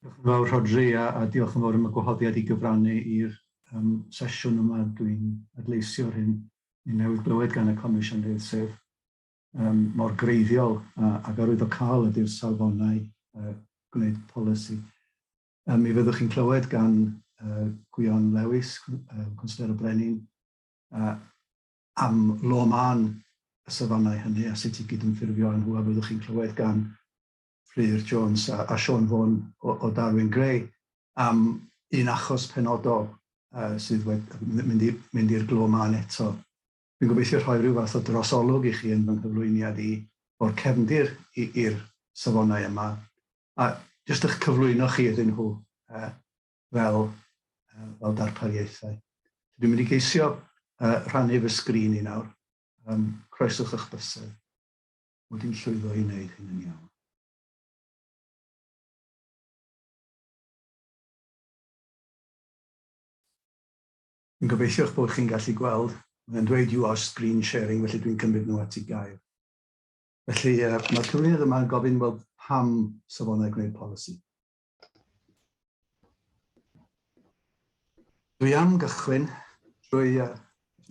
Diolch yn fawr Rhodri a, a diolch yn fawr am y gwahoddiad i gyfrannu i'r um, sesiwn yma. Dwi'n adleisio hyn i newydd glywed gan y Comisiynydd, sef um, mor greiddiol a, ac arwyddocaol ydy'r safonau uh, gwneud polisi. Um, mi fyddwch chi'n clywed gan uh, Gwion Lewis, uh, Cwnsler y Brenin, uh, am lo man y safonau hynny a sut i gydymffurfio â nhw a fyddwch chi'n clywed gan Fflur Jones a a Siôn Vaughan o o Darwin Gray am un achos penodol yy sydd wed- m- mynd i mynd i'r glo mân eto. Dwi'n gobeithio rhoi rhyw fath o drosolwg i chi yn fy nghyflwyniad i o'r cefndir i i'r safonau yma a jyst ych cyflwyno chi iddyn nhw yy fel yy fel darpariaethau. So dwi'n mynd i geisio yy rhannu fy sgrin i nawr. Yym croeswch ych bysedd. mod i'n llwyddo i wneud hyn yn iawn. Yn gobeithio eich bod chi'n gallu gweld, mae'n dweud you are screen sharing, felly dwi'n cymryd nhw at ei gair. Felly, uh, mae'r cyflwyniad yma'n gofyn, wel, pam safonau gwneud polisi? Dwi am gychwyn drwy uh,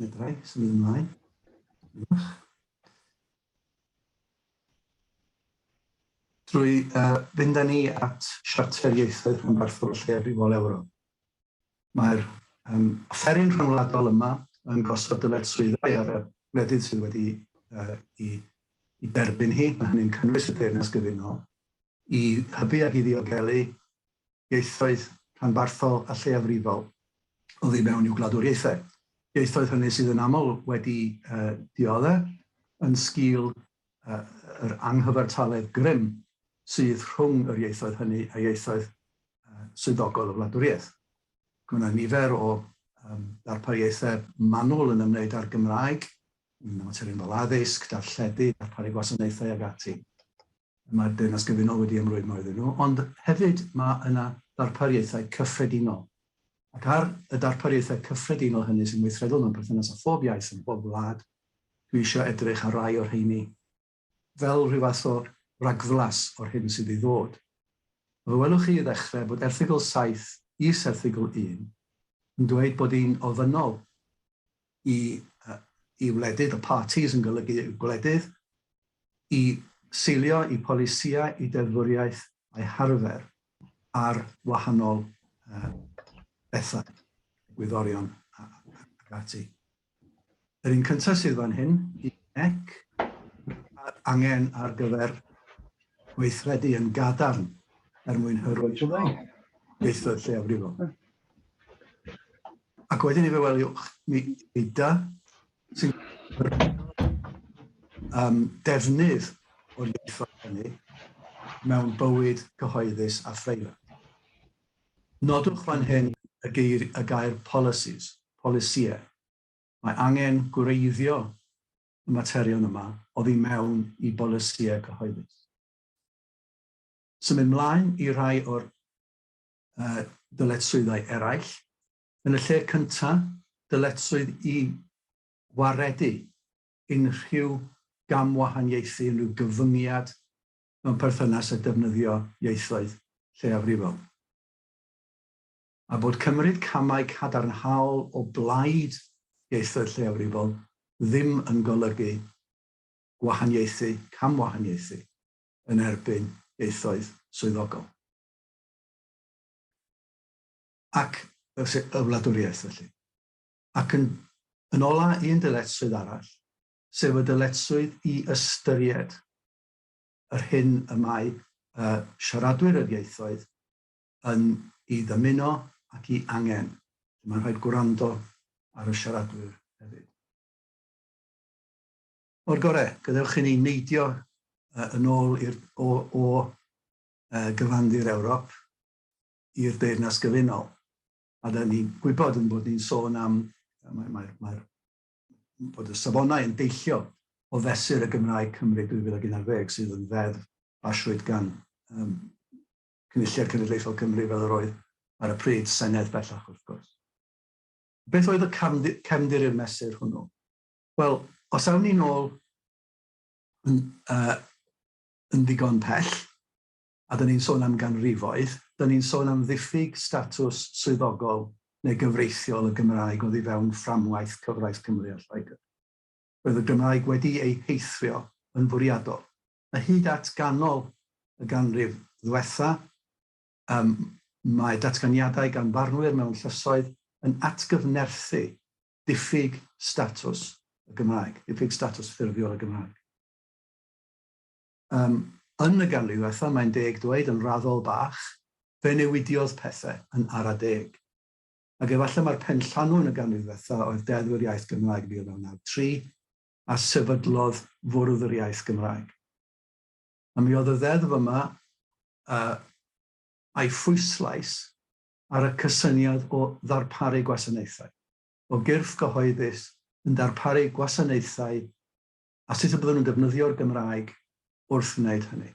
medrai symud ymlaen. Drwy uh, fynd â ni at Siarter Ieithoedd Rhanbarthol Lleiafrifol Ewro. Mae'r um, offeryn rhyngwladol yma yn gosod dyled swyddau ar y wledydd sydd wedi uh, i, i derbyn hi. Mae hynny'n cynnwys y deyrnas gyfunol. i hybu ac i ddiogelu ieithoedd rhanbarthol a lleiafrifol oddi mewn i'w gwladwriaethau, ieithoedd hynny sydd yn aml wedi diodde' yn sgil yr anghyfartaledd grym sydd rhwng yr ieithoedd hynny a ieithoedd swyddogol y wladwriaeth. Mae yna nifer o ddarpariaethau manwl yn ymwneud â'r Gymraeg, yn materion fel addysg, darlledu, darparu gwasanaethau ac ati. Mae'r Deyrnas Gyfunol wedi ymrwymo iddyn nhw, ond hefyd mae yna ddarpariaethau cyffredinol. Ac ar y darpariaethau cyffredinol hynny sy'n weithredol mewn perthynas â phob iaith ym mhob gwlad, dwi eisiau edrych ar rai o'r rheini fel rhyw fath o ragflas o'r hyn sydd i ddod. Fe welwch chi i ddechrau bod erthygl saith is erthygl un yn dweud bod hi'n ofynnol Y y wledydd, y parties, yn golygu y gwledydd, i seilio eu polisïau, eu deddfwriaeth a'u harfer ar wahanol bethau, egwyddorion ac ati. Yr un cyntaf sydd fan hyn, i nec, mae'r angen ar gyfer gweithredu yn gadarn er mwyn hyrwyddo ieithoedd lleiafrifol. Ac wedyn i fe weliwch, mi yda sy'n um, defnydd o'r ieithoedd hynny mewn bywyd cyhoeddus a phreifat. Nodwch fan hyn y, geir, y gair policies, polisïau. Mae angen gwreiddio y materion yma oddi mewn i bolisïau cyhoeddus. Symud mlaen i rai o'r y dyletswyddau eraill. Yn y lle cyntaf, dyletswydd i waredu unrhyw gamwahaniaethu, unrhyw gyfyngiad mewn perthynas â defnyddio ieithoedd lleiafrifol, a bod cymryd camau cadarnhaol o blaid ieithoedd lleiafrifol ddim yn golygu gwahaniaethu, camwahaniaethu, yn erbyn ieithoedd swyddogol. ac y wladwriaeth felly. Ac yn yn ôl â un dyletswydd arall, sef y dyletswydd i ystyried yr hyn y mae y siaradwyr yr ieithoedd yn ei ddymuno ac i angen, lle mae'n rhaid gwrando ar y siaradwyr hefyd. O'r gorau, gadewch i ni neidio yn ôl i'r o, o gyfandir Ewrop i'r Deyrnas Gyfunol. A dan ni'n gwybod yn bod ni'n sôn am, mae, mae, mae'r, bod y safonau yn deillio o fesur y Gymraeg Cymru 2011 sydd yn ddeddf basrwyd gan um, Cynulliad Cenedlaethol Cymru fel yr oedd ar y pryd, Senedd bellach wrth gwrs. Beth oedd y cefndir i'r mesur hwnnw? Wel, os awn ni'n ôl yn, uh, yn ddigon pell, a dan ni'n sôn am ganrifoedd, dan ni'n sôn am ddiffyg statws swyddogol neu gyfreithiol y Gymraeg oddi fewn fframwaith cyfraith Cymru a Lloegr. Roedd y Gymraeg wedi ei heithrio yn fwriadol, a hyd at ganol y ganrif ddiwetha', ym, mae datganiadau gan farnwyr mewn llysoedd yn atgyfnerthu diffyg statws y Gymraeg, diffyg statws ffurfiol y Gymraeg. Yym, yn y ganrif ddwetha, mae'n deg dweud, yn raddol bach, fe newidiodd pethe yn ara deg. Ag efalle mai'r penllanw yn y ganrif ddwetha oedd Deddf yr Iaith Gymraeg 1993, a sefydlodd Fwrdd yr Iaith Gymraeg. A mi oedd y ddeddf yma, yy, a'i phwyslais ar y cysyniad o ddarparu gwasanaethau, o gyrff gyhoeddus yn darparu gwasanaethau a sut y bydden nhw'n defnyddio'r Gymraeg wrth wneud hynny.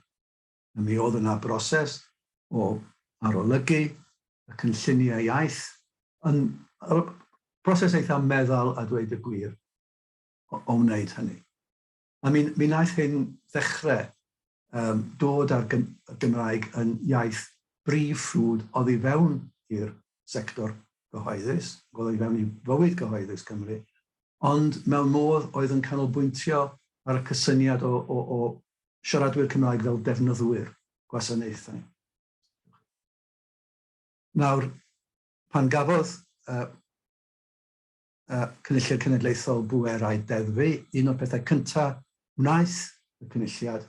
A mi oedd yna broses o arolygu y cynlluniau iaith yn broses eitha meddal a dweud y gwir o, o wneud hynny. A mi, mi wnaeth hyn ddechrau um, dod â'r Gymraeg yn iaith brif ffrwd oddi fewn i'r sector gyhoeddus, oddi fewn i fywyd gyhoeddus Cymru, ond mewn modd oedd yn canolbwyntio ar y cysyniad o, o, o siaradwyr Cymraeg fel defnyddwyr gwasanaethau. Nawr, pan gafodd uh, uh, Cynulliad Cenedlaethol Bwerau Deddfu, un o'r pethau cyntaf wnaeth y Cynulliad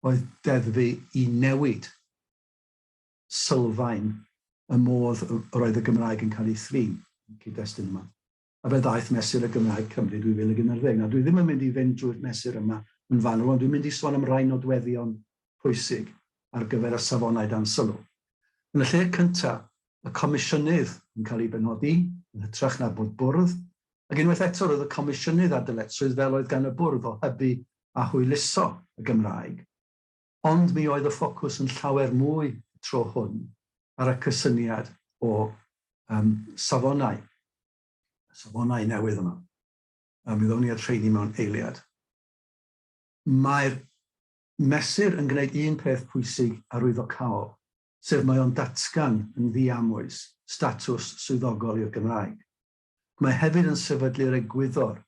oedd deddfu i newid sylfaen y modd yr oedd y Gymraeg yn cael ei thrin yn cyd-destun yma. A fe ddaeth mesur y Gymraeg Cymru 2011. Nawr, dwi ddim yn mynd i fynd drwy'r mesur yma yn fanwl, ond dwi'n mynd i sôn am rai nodweddion pwysig ar gyfer y safonau dan sylw. Yn y lle cyntaf, y Comisiynydd yn cael ei benodi, yn hytrach na bod Bwrdd, ac unwaith eto roedd y Comisiynydd a dyletswydd fel oedd gan y Bwrdd o hybu a hwyluso y Gymraeg. Ond mi oedd y ffocws yn llawer mwy y tro hwn ar y cysyniad o um, safonau, safonau newydd yma. Um, mi ddown ni at rheini mewn eiliad. Mae'r mesur yn gwneud un peth pwysig arwyddocaol, sef mae o'n datgan yn ddiamwys statws swyddogol i'r Gymraeg. Mae hefyd yn sefydlu'r egwyddor,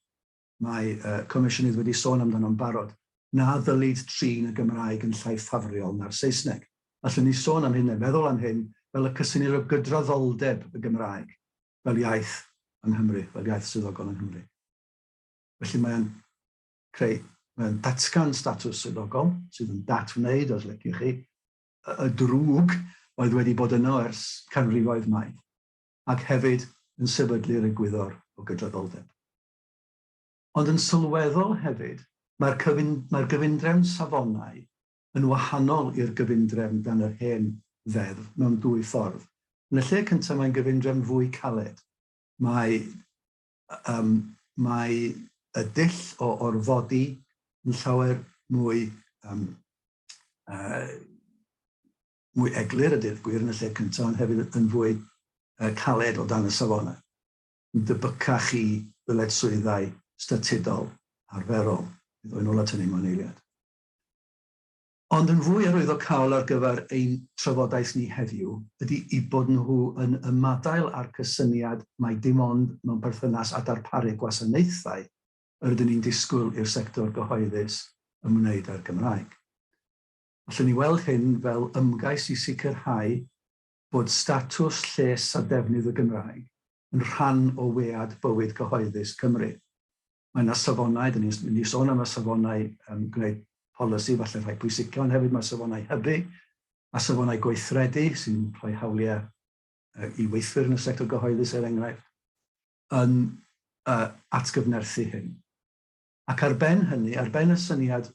mae y Comisiynydd wedi sôn amdano'n barod, na ddylid trin y Gymraeg yn llai ffafriol na'r Saesneg. Allwn ni sôn am hyn neu feddwl am hyn fel y cysinir o gydraddoldeb y Gymraeg fel iaith yng Nghymru, fel iaith swyddogol yng Nghymru. Felly mae o'n creu, mae o'n datgan statws swyddogol, sydd yn dat-wneud, os liciwch chi, y drwg oedd wedi bod yno ers canrifoedd maith, ac hefyd yn sefydlu'r egwyddor o gydraddoldeb. Ond yn sylweddol hefyd, mae'r cyfun, mae'r gyfundrefn safonau yn wahanol i'r gyfundrefn dan yr hen Ddeddf mewn dwy ffordd. Yn y lle cyntaf mae'n gyfundrefn fwy caled. Mae Yym, mae y dull o orfodi yn llawer mwy yym yy mwy eglur a deud y gwir yn y lle cynta ond hefyd yn fwy yy caled o dan y safona. Yn debycach i ddyledswyddau statudol arferol, bydd o yn ôl at hynny mewn eiliad. Ond yn fwy arwyddocaol ar gyfer ein trafodaeth ni heddiw ydy eu bod nhw yn ymadael â'r cysyniad mai dim ond mewn perthynas â darparu gwasanaethau yr ydyn ni'n disgwyl i'r sector gyhoeddus ymwneud â'r Gymraeg. Allwn ni weld hyn fel ymgais i sicrhau bod statws, lles a defnydd y Gymraeg yn rhan o wead bywyd cyhoeddus Cymru. Mae yna safonau, dan ni'n mynd i sôn am y safonau um, gwneud polisi falle rhai pwysica, ond hefyd mae safonau hybu, mae safonau gweithredu sy'n rhoi hawliau uh, i weithwyr yn y sector gyhoeddus er enghraifft, yn uh, atgyfnerthu hyn. Ac ar ben hynny, ar ben y syniad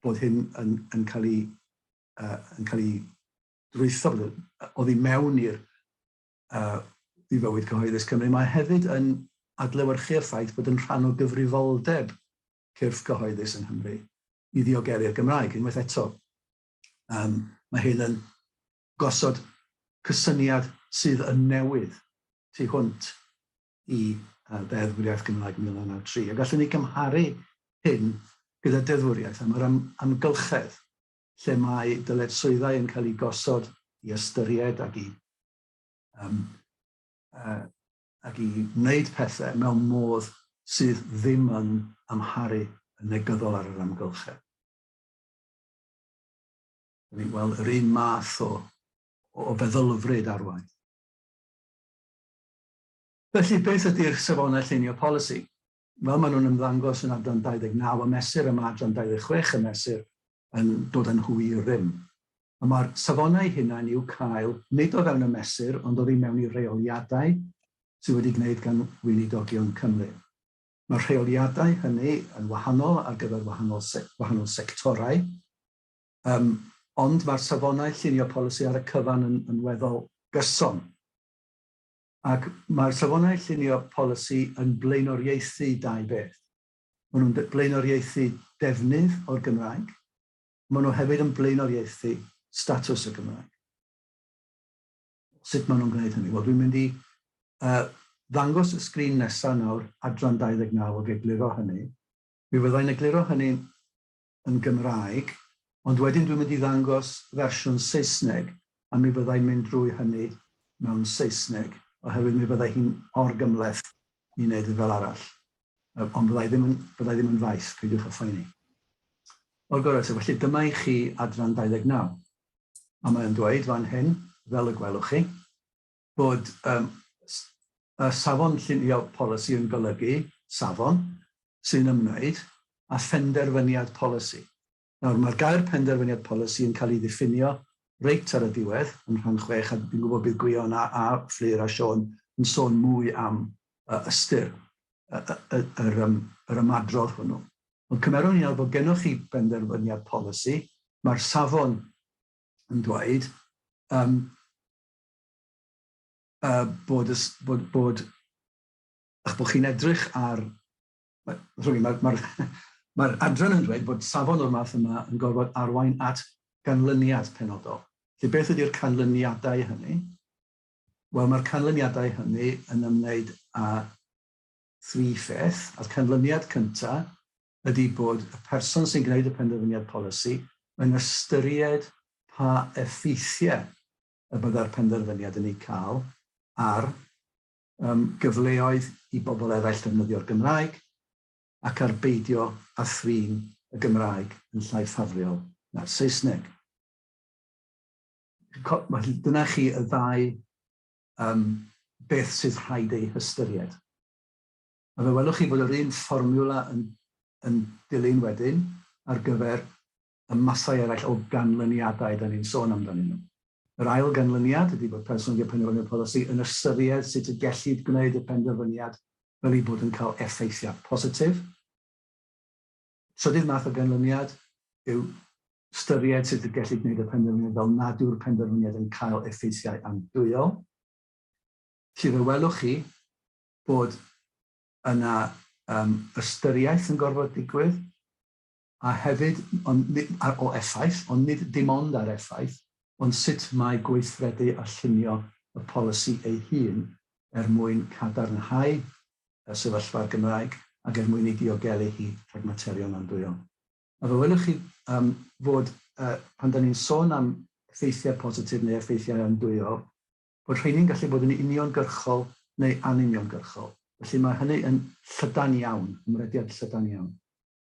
bod hyn yn, yn cael ei, uh, yn cael ei drwytho oddi mewn i'r i fywyd cyhoeddus Cymru, mae hefyd yn adlewyrchu'r ffaith bod yn rhan o gyfrifoldeb cyrff cyhoeddus yng Nghymru i ddiogelu'r Gymraeg. Unwaith eto, um, mae hyn yn gosod cysyniad sydd yn newydd tu hwnt i uh, ddeddfwriaeth Gymraeg 1993. A gallwn ni gymharu hyn gyda deddfwriaeth am yr am, amgylchedd lle mae dyletswyddau yn cael eu gosod i ystyried ac i um, uh, ac i wneud pethau mewn modd sydd ddim yn amharu yn negyddol ar yr amgylchedd. Dyn ni'n gweld yr un math o, o feddylfryd arwain. Felly, beth ydy'r safonau llunio polisi? fel maen nhw'n ymddangos yn adran 29 y mesur a mae adran 26 y mesur yn dod â nhw i rym. Y mae'r safonau hunain i'w cael nid o fewn y mesur ond oddi mewn i reoliadau sydd wedi gwneud gan Weinidogion Cymru. Mae'r rheoliadau hynny yn wahanol ar gyfer wahanol wahanol sectorau yym ond mae'r safonau llunio polisi ar y cyfan yn yn weddol gyson. Ac mae'r Safonau Llunio Polisi yn blaenoriaethu dau beth. Maen nhw'n blaenoriaethu defnydd o'r Gymraeg, ond maen nhw hefyd yn blaenoriaethu statws y Gymraeg. Sut maen nhw'n gwneud hynny? Wel, dwi'n mynd i uh, ddangos y sgrin nesaf nawr, adran 29 o egluro hynny. Mi fyddai'n egluro hynny yn Gymraeg, ond wedyn dwi'n mynd i ddangos fersiwn Saesneg a mi fydda i'n mynd drwy hynny mewn Saesneg, oherwydd mi fydda hi'n orgymhleth i wneud yn fel arall. Yy, ond fydda i ddim yn, fydda i ddim yn faes, peidiwch â phoeni. O'r gorau eto, felly dyma i chi adran 29. A mae o'n dweud fan hyn, fel y gwelwch chi, bod yym s- y safon llunio polisi yn golygu safon sy'n ymwneud â phenderfyniad polisi. Nawr, mae'r gair penderfyniad polisi yn cael ei ddiffinio reit ar y diwedd yn rhan chwech, a dwi'n gwybod bydd Gwion a, a Fflur a Siôn yn sôn mwy am yy, ystyr y, y, y, yr, yym, yr ymadrodd hwnnw. Ond cymerwn ni nawr bod gennych chi benderfyniad polisi, mae'r safon yn dweud yym, uh, bod, ys, bod, bod, ych bod chi'n edrych ar... Mae'r ma, ma, ma, ma adran yn dweud bod safon o'r math yma yn gorfod arwain at ganlyniad penodol. Felly beth ydy'r canlyniadau hynny? Wel, mae'r canlyniadau hynny yn ymwneud â thri pheth, a'r canlyniad cyntaf ydy bod y person sy'n gwneud y penderfyniad polisi yn ystyried pa effeithiau y byddai'r penderfyniad yn ei cael ar yym gyfleoedd i bobl eraill ddefnyddio'r Gymraeg ac ar beidio â thrin y Gymraeg yn llai ffafriol na'r Saesneg. Felly, dyna chi y ddau um, beth sydd rhaid eu hystyried. A fe welwch chi fod yr un fformiwla yn, yn dilyn wedyn ar gyfer y masau eraill o ganlyniadau da ni'n sôn amdanyn nhw. Yr ail ganlyniad ydy bod person wedi penderfynu'r polisi yn ystyried sut y gellid gwneud y penderfyniad fel ei bod yn cael effeithiau positif. Trydydd math o ganlyniad yw ystyried sut y gellid gwneud y penderfyniad fel nad yw'r penderfyniad yn cael effeithiau andwyol. Felly fe welwch chi bod yna um, ystyriaeth yn gorfod digwydd a hefyd o effaith, ond nid dim ond ar effaith, ond sut mae gweithredu a llunio y polisi ei hun er mwyn cadarnhau y sefyllfa'r Gymraeg ac er mwyn ei diogelu hi rhag materion andwyol. A fe welwch chi fod, pan da ni'n sôn am effeithiau positif neu effeithiau andwyol, bod rheini'n gallu bod yn uniongyrchol neu anuniongyrchol. Felly, mae hynny yn llydan iawn, ymrediad llydan iawn.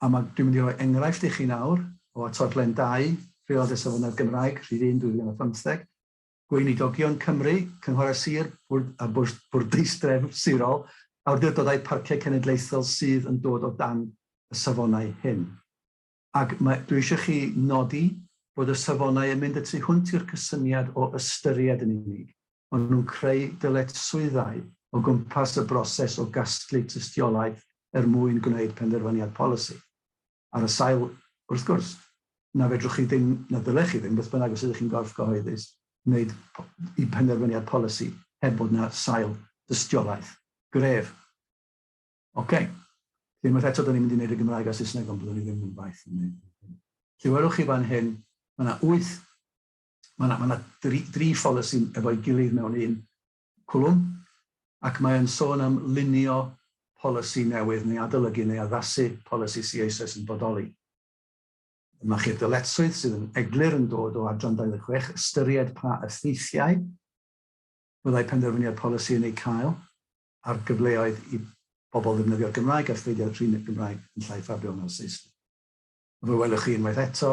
A ma', dwi'n mynd i roi enghraifft i chi nawr o atodlen dau Rheolad y Safonau'r Gymraeg, rhif un, 2015, Gweinidogion Cymru, Cynghorau Sir, Bwrdd a Bwrdd Bwrdeistref Sirol, Awdurdodau Parciau Cenedlaethol sydd yn dod o dan y safonau hyn. Ac mae, dwi eisiau chi nodi bod y safonau yn mynd y tu hwnt i'r cysyniad o ystyried yn unig, maen nhw'n creu dyletswyddau o gwmpas y broses o gasglu tystiolaeth er mwyn gwneud penderfyniad polisi, ar y sail, wrth gwrs, na fedrwch chi ddim, na ddylech chi ddim, beth bynnag os ydych chi'n gorff gyhoeddus, wneud penderfyniad polisi heb bod yna sail dystiolaeth gref. Ocê. Felly, unwaith eto, da ni'n mynd i wneud y Gymraeg a'r Saesneg, ond byddwn i ddim yn faith yn wneud hynny. Felly, welwch chi fan hyn, mae yna wyth ma' 'na ma' 'na dri dri pholisi efo'i gilydd mewn un cwlwm, ac mae o'n sôn am lunio polisi newydd neu adolygu neu addasu polisi sy eisoes yn bodoli. Dyma chi'r dyletswydd sydd yn eglur yn dod o adran 26, ystyried pa effeithiau fyddai penderfyniad polisi yn eu cael ar gyfleoedd i bobl ddefnyddio'r Gymraeg a pheidio â thrin y Gymraeg yn llai ffafriol na'r Saesneg. A fel welwch chi unwaith eto,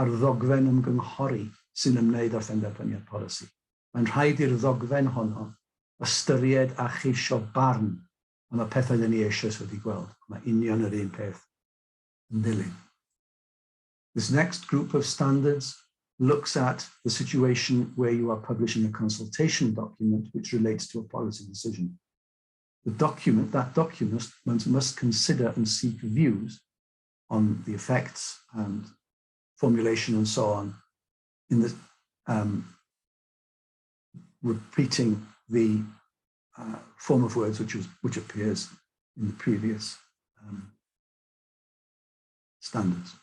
a'r ddogfen ymgynghori sy'n ymwneud â phenderfyniad polisi. Mae'n rhaid i'r ddogfen honno ystyried a cheisio barn am y pethau dan ni eisoes wedi gweld, ond mae union yr un peth yn dilyn. This next group of standards looks at the situation where you are publishing a consultation document which relates to a policy decision. The document, that document must consider and seek views on the effects and formulation and so on in the um, repeating the uh, form of words which, was, which appears in the previous um, standards.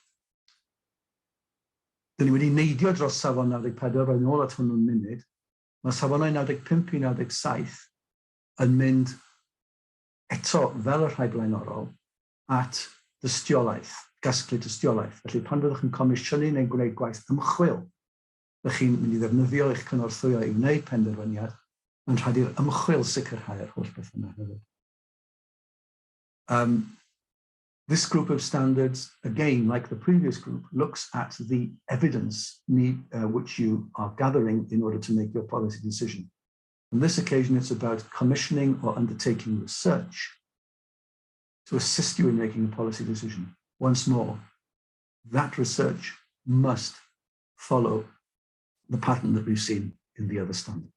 Dyn ni wedi neidio dros safon 94, roedd nôl at hwnnw'n munud. Mae safonau 95 i 97 yn mynd eto fel y rhai blaenorol, at dystiolaeth, gasglu tystiolaeth. Felly, pan fyddwch yn comisiynu neu'n gwneud gwaith ymchwil, ydych chi'n mynd i ddefnyddio eich cynorthwyo i wneud penderfyniad, mae'n rhaid i'r ymchwil sicrhau yr holl beth yna hefyd. Um, This group of standards, again, like the previous group, looks at the evidence need, uh, which you are gathering in order to make your policy decision. On this occasion, it's about commissioning or undertaking research. to assist you in making a policy decision. Once more, that research must follow the pattern that we've seen in the other standards.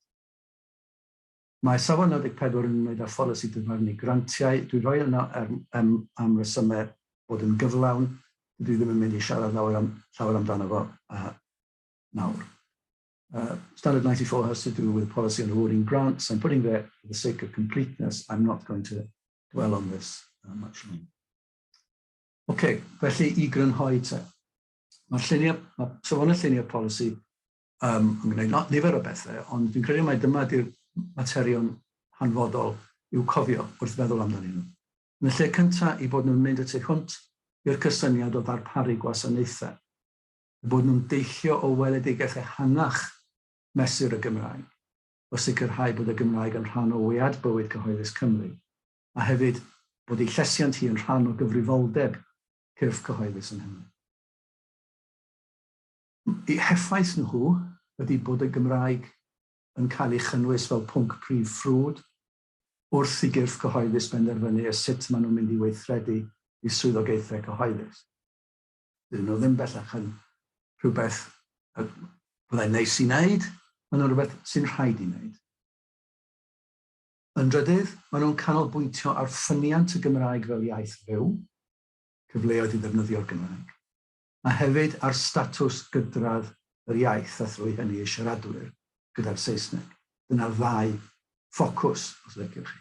Mae safon 14 yn ymwneud â pholisi dyfarnu grantiau. Dwi'n rhoi yna er, am, am resymau bod yn gyflawn. Dwi ddim yn mynd i siarad nawr am, llawer amdano fo uh, nawr. Uh, standard 94 has to do with policy on awarding grants. I'm putting there for the sake of completeness. I'm not going to dwell on this much longer. Ocê, felly i grynhoi te. Mae'r lluniau, mae safonau lluniau polisi um, yn gwneud nifer o bethau, ond fi'n credu mai dyma ydy'r materion hanfodol i'w cofio wrth feddwl amdanyn nhw. Yn y lle cyntaf, i bod nhw'n mynd y tu hwnt i'r cysyniad o ddarparu gwasanaethau, i bod nhw'n deillio o weledigaeth ehangach mesur y Gymraeg, o sicrhau bod y Gymraeg yn rhan o wead bywyd cyhoeddus Cymru, a hefyd bod ei llesiant hi yn rhan o gyfrifoldeb cyrff cyhoeddus yng Nghymru. Eu heffaith nhw ydi bod y Gymraeg yn cael ei chynnwys fel pwnc prif ffrwd wrth i gyrff cyhoeddus benderfynu sut maen nhw'n mynd i weithredu eu swyddogaethau cyhoeddus. Dydyn nhw ddim bellach yn rhywbeth y byddai'n neis i wneud, maen nhw'n rhywbeth sy'n rhaid i wneud. Yn drydydd, maen nhw'n canolbwyntio ar ffyniant y Gymraeg fel iaith fyw, cyfleoedd i ddefnyddio'r Gymraeg, a hefyd ar statws gydradd yr iaith a thrwy hynny ei siaradwyr gyda'r Saesneg. Dyna'r ddau ffocws, os liciwch chi.